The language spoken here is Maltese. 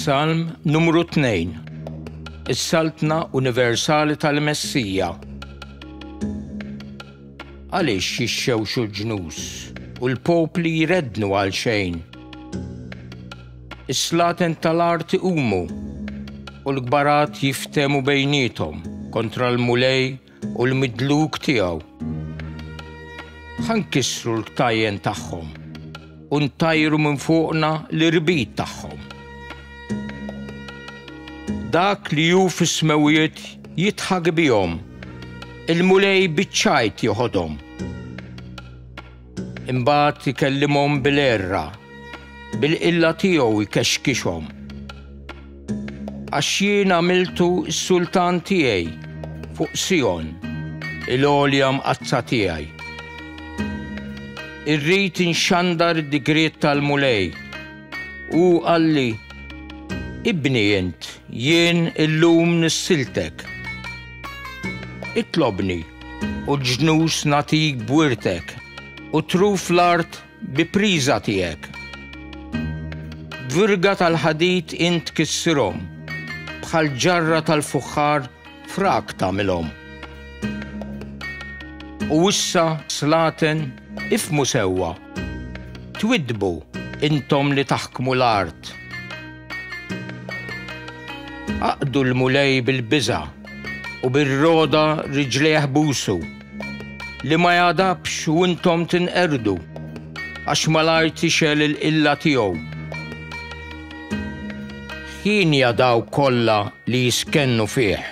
Salm numru 2 Is-Saltna Universali tal-Messija Għaliex jixxewxu l-ġnus u l-popli jrednu għal xejn. Is-slaten tal-art iqumu u l-kbarat jiftemu bejnietom kontra l-mulej u l-midluk tiegħu. Ħa nkissru l-ktajjen tagħhom u ntajru minn fuqna l-irbit tagħhom. Dak li hu fis-smewwiet jidħak bihom, il-Mulej biċ-ċajt joħodhom. Imbagħad ikellimhom bil-għerra, bil-qilla tiegħu jkexkixhom. Għax jien għamiltu s-sultan tiegħi fuq Sijon, il-għolja mqaddsa tiegħi. Irrid inxandar id-digriet tal-Mulej. Hu qalli, Ibni int, jien illum nissiltek. Itlobni u ġnus nagħtik b'wirtek, u truf l-art bi priża tiegħek. B'virga tal-ħadid int tkissirhom, bħal ġarra tal-fuħħar frak tagħmilhom. U issa, slaten, ifhmu sewwa, twiddbu, intom li taħkmu l-art. Aqdu l-Mulej bil-biża' u bir-roda riġlejh busu, li ma jagħdabx u intom tinqerdu, għax malajr tixgħel il-qilla tiegħu. Hienja dawk kollha li jiskennu fih.